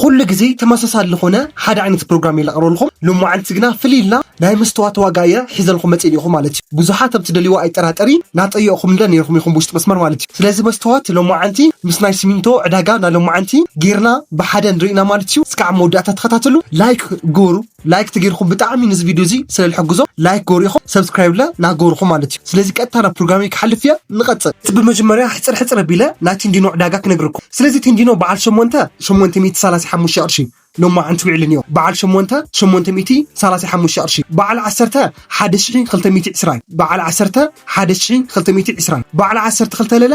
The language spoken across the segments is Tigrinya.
ኹሉ ግዜ ተመሳሳሊ ልኾነ ሓደ ዓይነት ፕሮግራም እየ ለቕርበልኹም ሎማዓንቲ ግና ፍልይ ኢልና ናይ መስተዋት ዋጋ እየ ሒዘልኹም መፅእ ኔርኹ ማለት እዩ ብዙሓት ኣብ ትደልይዎ ኣይጠራጠሪ ናጠየቕኹምለ ኔርኹም ኢኹም ብውሽጢ መስመር ማለት እዩ ስለዚ መስተዋት ሎማዓንቲ ምስ ናይ ስሚንቶ ዕዳጋ ናሎማዓንቲ ጌርና ብሓደ ንሪኢና ማለት እዩ እስካዕ መወዳእታ ተኸታተሉ ላይክ ግበሩ ላይክ ተገይርኩም ብጣዕሚ ነዚ ቪድዮ እዚ ስለ ዝሕግዞ ላይክ ገሩ ኢኹም ሰብስክራይብ ለ ናገርኹ ማለት እዩ ስለዚ ቀጥታ ናብ ፕሮግራመይ ክሓልፍ እየ ንቐፅል እቲ ብመጀመርያ ሕፅር ሕፅር ኣቢለ ናይ ቲንዲኖ ዕዳጋ ክነግርኩም ስለዚ ቲንዲኖ በዓል ሸሞንተ ሸሞንተ ሚእቲ ሰላሳ ሓሙሽተ ቅርሺ ሎማዓንቲ ውዒሉ እኒኦ በዓል ሸሞንተ ሸሞንተ ሚእቲ ሰላሳ ሓሙሽተ ቅርሺ በዓል ዓሰርተ ሓደ ሽሒ ክልተ ሚእቲ ዕስራን በዓል ዓሰርተ ሓደ ሽሒ ክልተ ሚእቲ ዕስራን በዓል ዓሰርተ ክልተ ለለ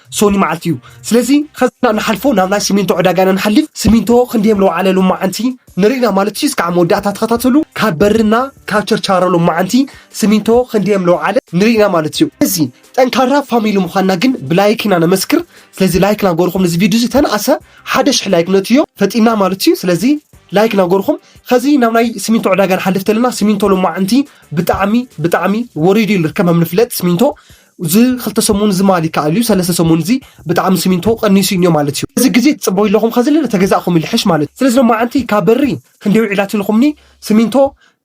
ሶኒ መዓልቲ እዩ ስለዚ ከዝና ንሓልፎ ናብ ናይ ስሚንቶ ዕዳጋና ንሓልፍ ስሚንቶ ክንደየም ለውዓለ ሎማዓንቲ ንርኢና ማለት እዩ እስካዕ መወዳእታ ተኸታተሉ ካብ በርና ካብ ቸርቻሮ ሎማዓንቲ ስሚንቶ ክንደየም ለውዓለ ንርኢና ማለት እዩ እዚ ጠንካራ ፋሚሊ ምዃንና ግን ብላይክ ኢና ነመስክር ስለዚ ላይክ ናገርኹም ነዚ ቪድዮ እዚ ተነኣሰ ሓደ ሽሕ ላይክ ነትዮ ፈጢና ማለት እዩ ስለዚ ላይክ ናገርኹም ከዚ ናብ ናይ ስሚንቶ ዕዳጋ ንሓልፍ ተለና ስሚንቶ ሎማዓንቲ ብጣዕሚ ብጣዕሚ ወሪዱ ይርከብ ከም ንፍለጥ ስሚንቶ እዚ ክልተ ሰሙን እዚ ማል ይከኣል እዩ ሰለስተ ሰሙን እዚ ብጣዕሚ ስሚንቶ ቀኒሱ እኒኦ ማለት እዩ እዚ ግዜ ትፅበዩ ኣለኹም ከዚ ለለ ተገዛእኹም ይልሕሽ ማለት እዩ ስለዚ ሎማዓንቲ ካብ በሪ ክንደይ ውዒላት ኢልኹምኒ ስሚንቶ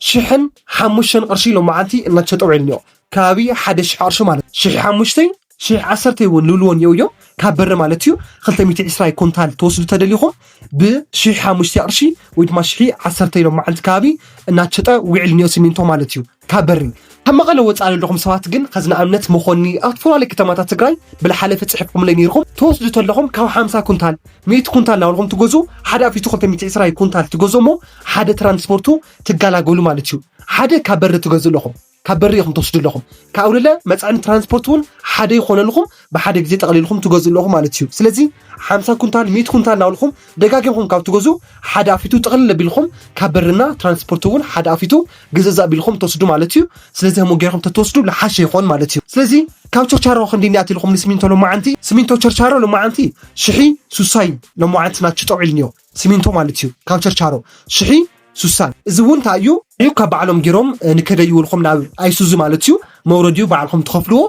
ሽሕን ሓሙሽተን ቅርሺ ሎማዓንቲ እናተሸጠ ውዒሉ እኒኦ ከባቢ ሓደ ሽሕ ቅርሺ ማለት እዩ ሽሕ ሓሙሽተይ ሽሕ ዓሰርተይ እውን ልብልዎ እኒኦ እዮም ካብ በሪ ማለት እዩ ክልተ ሚእቲ ዕስራይ ኮንታል ተወስዱ ተደሊኹም ብሽሕ ሓሙሽተ ቅርሺ ወይ ድማ ሽሒ ዓሰርተይ ሎማዓንቲ ከባቢ እናተሸጠ ውዒሉ እኒኦ ስሚንቶ ማለት እዩ ካብ በሪ ካብ መቐለ ወፃኢ ዘለኹም ሰባት ግን ከዚ ንኣብነት መኾኒ ኣብ ዝተፈላለዩ ከተማታት ትግራይ ብልሓለፊ ፅሒፍኩምለይ ነይርኹም ትወስዱ ተለኹም ካብ ሓምሳ ኩንታል ሚእቲ ኩንታል እናበልኹም ትገዙ ሓደ ኣፊቱ ክልተ ሚእቲ ዕስራ ኩንታል ትገዙ እሞ ሓደ ትራንስፖርቱ ትጋላገሉ ማለት እዩ ሓደ ካብ በሪ ትገዙ ኣለኹም ካብ በሪ ኢኹም ትወስዱ ኣለኹም ካብ ኣውለለ መፅዕኒ ትራንስፖርት እውን ሓደ ይኾነልኹም ብሓደ ግዜ ጠቕሊልኹም ትገዙ ኣለኹም ማለት እዩ ስለዚ ሓምሳ ኩንታል ሚእቲ ኩንታል እናበልኹም ደጋጊምኩም ካብ ትገዝኡ ሓደ ኣፊቱ ጥቕልል ኣቢልኩም ካብ በርና ትራንስፖርት እውን ሓደ ኣፊቱ ግዘዝ ኣቢልኩም ተወስዱ ማለት እዩ። ስለዚ ከምኡ ገይርኩም ተተወስዱ ልሓሸ ይኾን ማለት እዩ። ስለዚ ካብ ቸርቻሮ ክንዲ እኒኣት ኢልኩም ንስሚንቶ ሎማዓንቲ ስሚንቶ ቸርቻሮ ሎማዓንቲ ሽሒ ሱሳ እዩ። ሎማዓንቲ ናቹ ጠውዒልኒዮ ስሚንቶ ማለት እዩ ካብ ቸርቻሮ ሽሒ ሱሳን እዚ እውን ታይ እዩ ዒብ ካብ ባዕሎም ጌሮም ንከደይውልኩም ናብ ኣይሱዙ ማለት እዩ መውረዲኡ ባዕልኩም ትኸፍልዎ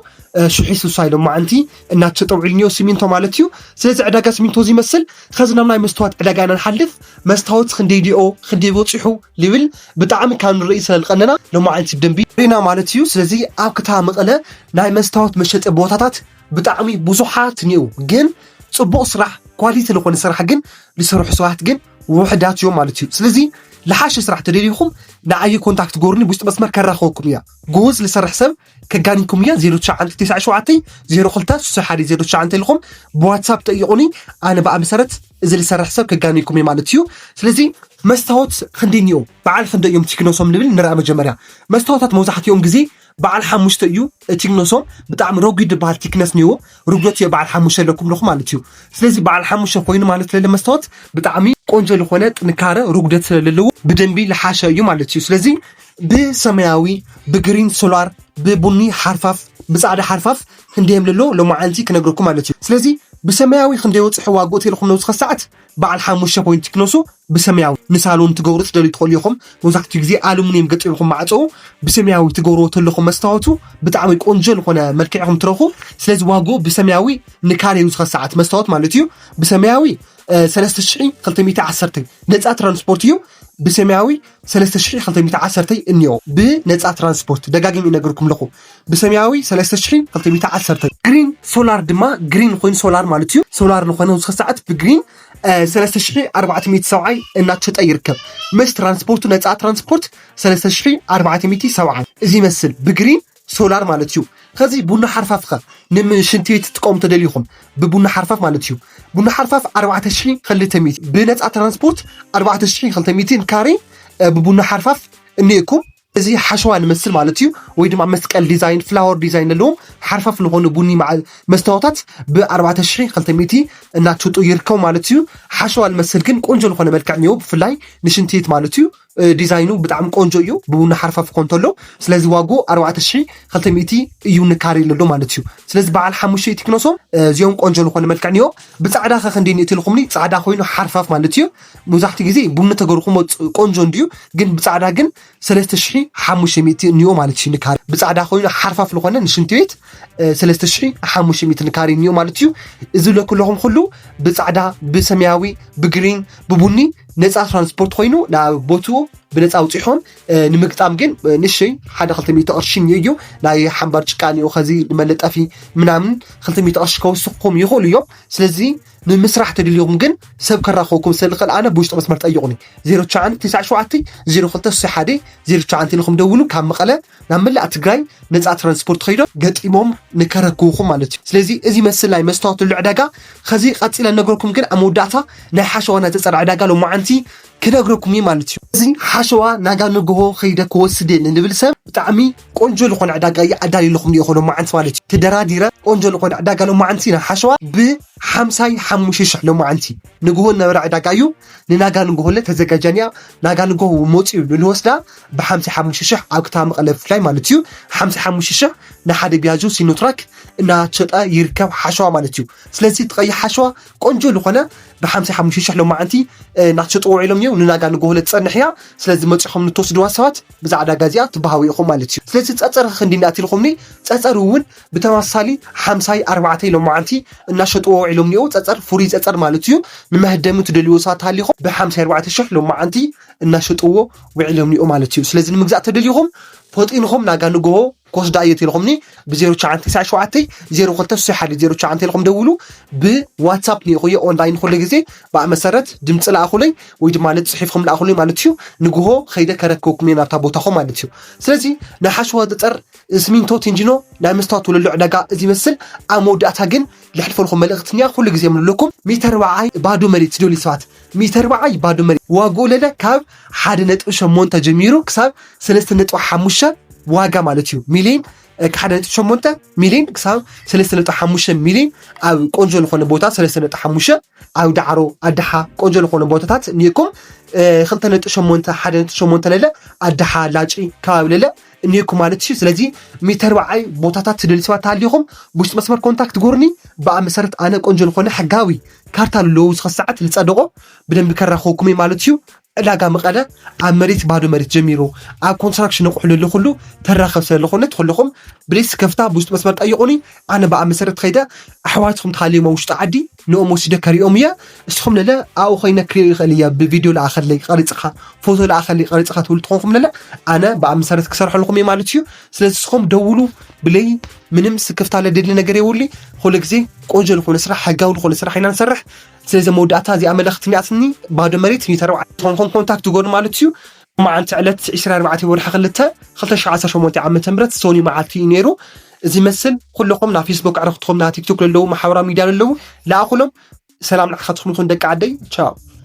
ሽሒ ሱሳይ ሎማዓንቲ እናተጠውዒልኒዮ ሲሚንቶ ማለት እዩ ስለዚ ዕዳጋ ሲሚንቶ እዚ ይመስል ከዚ ናብ ናይ መስተዋት ዕዳጋ ኢና ንሓልፍ መስታወት ክንደይ ዲኦ ክንደይ በፂሑ ሊብል ብጣዕሚ ካብ ንርኢ ስለልቀነና ሎማዓንቲ ብደንቢ ሪና ማለት እዩ ስለዚ ኣብ ክታ መቐለ ናይ መስታወት መሸጢ ቦታታት ብጣዕሚ ብዙሓት ኒኡ ግን ፅቡቕ ስራሕ ኳሊቲ ልኾነ ስራሕ ግን ልሰርሑ ሰባት ግን ውሕዳት እዮም ማለት እዩ ስለዚ ልሓሸ ስራሕ ተደሊኹም ንዓየ ኮንታክት ጎርኒ ብውሽጢ መስመር ከራኸበኩም እያ ጎወዝ ልሰርሕ ሰብ ከጋኒኩም እያ 0997026109 ኢልኹም ብዋትሳፕ ጠይቁኒ ኣነ ብኣ መሰረት እዚ ልሰርሕ ሰብ ከጋኒኩም እየ ማለት እዩ ስለዚ መስታወት ክንደይ እኒኦ በዓል ክንደይ እዮም ቲክኖሶም ንብል ንርኣ መጀመርያ መስታወታት መብዛሕትኦም ግዜ በዓል ሓሙሽተ እዩ ቲክነሶም ብጣዕሚ ረጒድ ዝበሃል ቲክነስ ኒዎ ርጉት እዮ በዓል ሓሙሽተ ኣለኩም ኣለኹ ማለት እዩ ስለዚ በዓል ሓሙሽተ ኮይኑ ማለት ለለ መስታወት ብጣዕሚ ቆንጆ ዝኾነ ጥንካረ ርጉደት ስለለለዎ ብደንቢ ልሓሸ እዩ ማለት እዩ ስለዚ ብሰማያዊ ብግሪን ሶላር ብቡኒ ሓርፋፍ ብፃዕዳ ሓርፋፍ ክንደየም ለሎ ሎማዓንቲ ክነግረኩም ማለት እዩ ስለዚ ብሰማያዊ ክንደይ ወፅሑ ዋግኡ ተልኹም ነውስኸ ሰዓት በዓል ሓሙሽተ ፖይንት ክነሱ ብሰማያዊ ንሳሎን ትገብሩ ትደልዩ ትኽእሉ ኢኹም። መብዛሕትኡ ግዜ ኣሉሚንየም ገጢምኹም ማዕጾኡ ብሰማያዊ ትገብርዎ ተለኹም መስታወቱ ብጣዕሚ ቆንጆ ዝኾነ መልክዕ ኢኹም ትረኽቡ። ስለዚ ዋግኡ ብሰማያዊ ንካሬን ዝኸ ሰዓት መስታወት ማለት እዩ ብሰማያዊ 3210 ነፃ ትራንስፖርት እዩ ብሰማያዊ ሰለስተ ሽሕን ክልተ ሚእቲ ዓሰርተይ እንዮ ብ ነጻ ትራንስፖርት ደጋጊም ይነግርኩም ለኹ ብ ሰምያዊ ሰለስተ ሽሕን ክልተ ሚእቲ ዓሰርተይ። ግሪን ሶላር ድማ ግሪን ኾይኑ ሶላር ማለት እዩ ሶላር ልኾነ ውስከ ሰዓት ብ ግሪን ሰለስተ ሽሒ ኣርባዕተ ሚእቲ ሰብዓይ እናተሸጠ ይርከብ ምስ ትራንስፖርቱ ነጻ ትራንስፖርት ሰለስተ ሽሒ ኣርባዕተ ሚእቲ ሰብዓይ እዚ ይመስል ብ ግሪን ሶላር ማለት እዩ ከዚ ቡና ሓርፋፍኸ ንምሽንቲ ቤት ትጥቀሙ ተደሊኹም ብቡና ሓርፋፍ ማለት እዩ ቡና ሓርፋፍ ኣርባዕተ ሽሒ ክልተ ሚእቲ ብነፃ ትራንስፖርት ኣርባዕተ ሽሒ ክልተ ሚእቲ ካሬ ብቡና ሓርፋፍ እኒኤኩም እዚ ሓሸዋ ንመስል ማለት እዩ ወይ ድማ መስቀል ዲዛይን ፍላወር ዲዛይን ኣለዎም ሓርፋፍ ዝኾኑ ቡኒ መስታወታት ብኣርባዕተ ሽሒ ክልተ ሚእቲ እናትሽጡ ይርከቡ ማለት እዩ ሓሸዋ ንመስል ግን ቆንጆ ዝኾነ መልክዕ እኒዎ ብፍላይ ንሽንትት ማለት እዩ ዲዛይኑ ብጣዕሚ ቆንጆ እዩ ብቡና ሓርፋፍ ኮን ተሎ ስለዚ ዋጉ 4200 እዩ ንካሪ ለሎ ማለት እዩ ስለዚ በዓል ሓሙሽተ እቲ ክነሶም እዚኦም ቆንጆ ዝኾነ መልክዕ እኒኦ ብፃዕዳ ከ ክንደይ ንእቲ ኢልኩምኒ ፃዕዳ ኮይኑ ሓርፋፍ ማለት እዩ መብዛሕትኡ ግዜ ቡኒ ተገርኹሞ ቆንጆ እንድዩ ግን ብፃዕዳ ግን 3500 እኒኦ ማለት እዩ ንካሪ ብፃዕዳ ኮይኑ ሓርፋፍ ዝኾነ ንሽንቲ ቤት 3500 ንካሪ እኒኦ ማለት እዩ እዚ ለኩለኹም ኩሉ ብፃዕዳ ብሰማያዊ ብግሪን ብቡኒ ነፃ ትራንስፖርት ኮይኑ ናብ ቦትኡ ብነፃ ውፂሖም ንምግጣም ግን ንሽይ ሓደ ክልተ ሚእቲ ቅርሺ እዩ ናይ ሓምባር ጭቃ እኒኦ ከዚ ንመለጠፊ ምናምን ክልተ ሚእቲ ቅርሺ ከወስኹም ይኽእሉ እዮም ስለዚ ንምስራሕ ተድልዩኹም ግን ሰብ ከራኸብኩም ስለዝኽእል ኣነ ብውሽጢ መስመር ጠይቑኒ 0997 0261 09 ኢልኩም ደውሉ ካብ መቐለ ናብ መላእ ትግራይ ነፃ ትራንስፖርት ከይዶም ገጢሞም ንከረክቡኹም ማለት እዩ ስለዚ እዚ መስል ናይ መስታወት ልዑዕ ዕዳጋ ኸዚ ቀጺለ ልነግረኩም ግን ኣብ መወዳእታ ናይ ሓሸዋ ናይ ተጸር ዕዳጋ ሎማዓንቲ ክነግረኩም እየ ማለት እዩ። እዚ ሓሸዋ ናጋ ንግሆ ኸይደ ክወስድ እየ ንልብል ሰብ ብጣዕሚ ቆንጆ ልኾነ ዕዳጋ እየ ኣዳልየልኹም ኒኦኹ ሎማዓንቲ ማለት እዩ። ተደራዲረ ቆንጆ ልኾነ ዕዳጋ ሎማዓንቲ ናይ ሓሸዋ ብ ሓምሳይ ሓሙሽተ ሽሕ ሎማዓንቲ ንግሆ ልነበረ ዕዳጋ እዩ ንናጋ ንግሆለ ተዘጋጃኒያ ናጋ ንግሆ መጺኡ ንልወስዳ ብሓምሳ ሓሙሽተ ሽሕ ኣብ ከተማ መቐለ ብፍላይ ማለት እዩ ሓምሳ ሓሙሽተ ሽሕ ንሓደ ቢያጆ ሲኖትራክ እናሸጠ ይርከብ ሓሸዋ ማለት እዩ ስለዚ እቲ ቀይሕ ሓሸዋ ቆንጆ ዝኾነ ብሓምሳ ሓሙሽተ ሽሕ ሎማዓንቲ እናተሸጡ ውዒሎም እዮም ንናጋ ንጎሆለ ትፀንሕ እያ ስለዚ መፂኹም ንተወስድዋ ሰባት ብዛ ዕዳጋ እዚኣ ትበሃዊ ኢኹም ማለት እዩ ስለዚ ፀፀር ክንዲ እናትልኹምኒ ፀፀር እውን ብተመሳሳሊ ሓምሳይ ኣርባዕተይ ሎማዓንቲ እናሸጥዎ ውዒሎም እኒኦ ፀፀር ፍሩይ ፀፀር ማለት እዩ ንመህደሚ ትደልይዎ ሰባት ሃሊኹም ብሓምሳ ኣርባዕተ ሽሕ ሎማዓንቲ እናሸጥዎ ውዒሎም ኒኦ ማለት እዩ ስለዚ ንምግዛእ ተደሊኹም ፈጢንኹም ናጋ ንግሆ ኮስዳ እዮ ተልኹምኒ ብ0997 0261 09 ተልኹም ደውሉ ብዋትሳፕ ኒኢኹዮ ኦንላይን ኩሉ ግዜ ብኣ መሰረት ድምፂ ለኣኹለይ ወይ ድማ ፅሒፍኹም ለኣኹለይ ማለት እዩ ንግሆ ከይደ ከረክበኩም እየ ናብታ ቦታኹም ማለት እዩ ስለዚ ናይ ሓሸዋ ፀፀር ስሚንቶ ቲንጂኖ ናይ መስታወት ወለሎ ዕዳጋ እዚ ይመስል ኣብ መወዳእታ ግን ልሕልፈልኹም መልእኽትኛ ኩሉ ግዜ ምልለኩም ሚተር ወዓይ ባዶ መሬት ዝደልዩ ሰባት ሚተር በዓይ ባዶ መሬት ዋግኡ ለለ ካብ ሓደ ነጥቢ ሸሞንተ ጀሚሩ ክሳብ ሰለስተ ነጥቢ ሓሙሽተ ዋጋ ማለት እዩ ሚሊዮን ሓደ ነጥቢ ሸሞንተ ሚሊዮን ክሳብ ሰለስተ ነጥቢ ሓሙሽተ ሚሊዮን ኣብ ቆንጆ ዝኾነ ቦታ ሰለስተ ነጥቢ ሓሙሽተ ኣብ ዳዕሮ ኣድሓ ቆንጆ ዝኾነ ቦታታት እኒኤኩም ክልተ ነጥቢ ሸሞንተ ሓደ ነጥቢ ሸሞንተ ለለ ኣድሓ ላጪ ከባቢ ለለ እኒሄኩም ማለት እዩ ስለዚ ሚተርባዓይ ቦታታት ትደሊ ሰባት ተሃሊኹም ብውሽጢ መስመር ኮንታክት ጎርኒ ብኣ መሰረት ኣነ ቆንጆ ዝኾነ ሕጋዊ ካርታ ልለዎ ዝኸ ሰዓት ልፀደቆ ብደንቢ ከራኸብኩም እዩ ማለት እዩ ዕዳጋ መቐለ ኣብ መሬት ባዶ መሬት ጀሚሩ ኣብ ኮንስትራክሽን ነቑሑ ልሊ ኩሉ ተራኸብ ስለ ዝኾነ ትኹልኹም ብሌስ ከፍታ ብውሽጢ መስመር ጠይቑኒ ኣነ ብኣ መሰረት ከይደ ኣሕዋትኩም ተሃልዮም ኣብ ውሽጢ ዓዲ ንኦም ወሲደ ከሪኦም እየ እስኹም ለለ ኣብኡ ኮይነ ክሪኦ ይኽእል እያ ብቪድዮ ለኣኸለይ ቀሪፅኻ ፎቶ ለኣኸለይ ቀሪፅኻ ትብሉ ትኾንኩም ለለ ኣነ ብኣ መሰረት ክሰርሐልኩም እየ ማለት እዩ ስለዚ እስኹም ደውሉ ብለይ ምንም ስክፍታ ለደሊ ነገር የውሊ ኩሉ ግዜ ቆንጆ ዝኾነ ስራሕ ሕጋዊ ዝኾነ ስራሕ ኢና ንሰርሕ ስለዚ መወዳእታ እዚኣ መለኽቲ እኒኣትኒ ባዶ መሬት ሚተረብዓ ትኾንኩም ኮንታክት ጎኑ ማለት እዩ ሎማዓንቲ ዕለት ዕስራን ኣርባዕተን ወርሒ ክልተ ክልተ ሽሕን ዓሰርተ ሸሞንተን ዓመተ ምህረት ሰኑይ መዓልቲ እዩ ነይሩ እዚ መስል ኩልኹም ናብ ፌስቡክ ኣዕርኽትኹም ናብ ቲክቶክ ለለዉ ማሕበራዊ ሚድያ ለለዉ ለኣኹሎም ሰላም ንዓኻትኹም ይኹን ደቂ ዓደይ ቻው።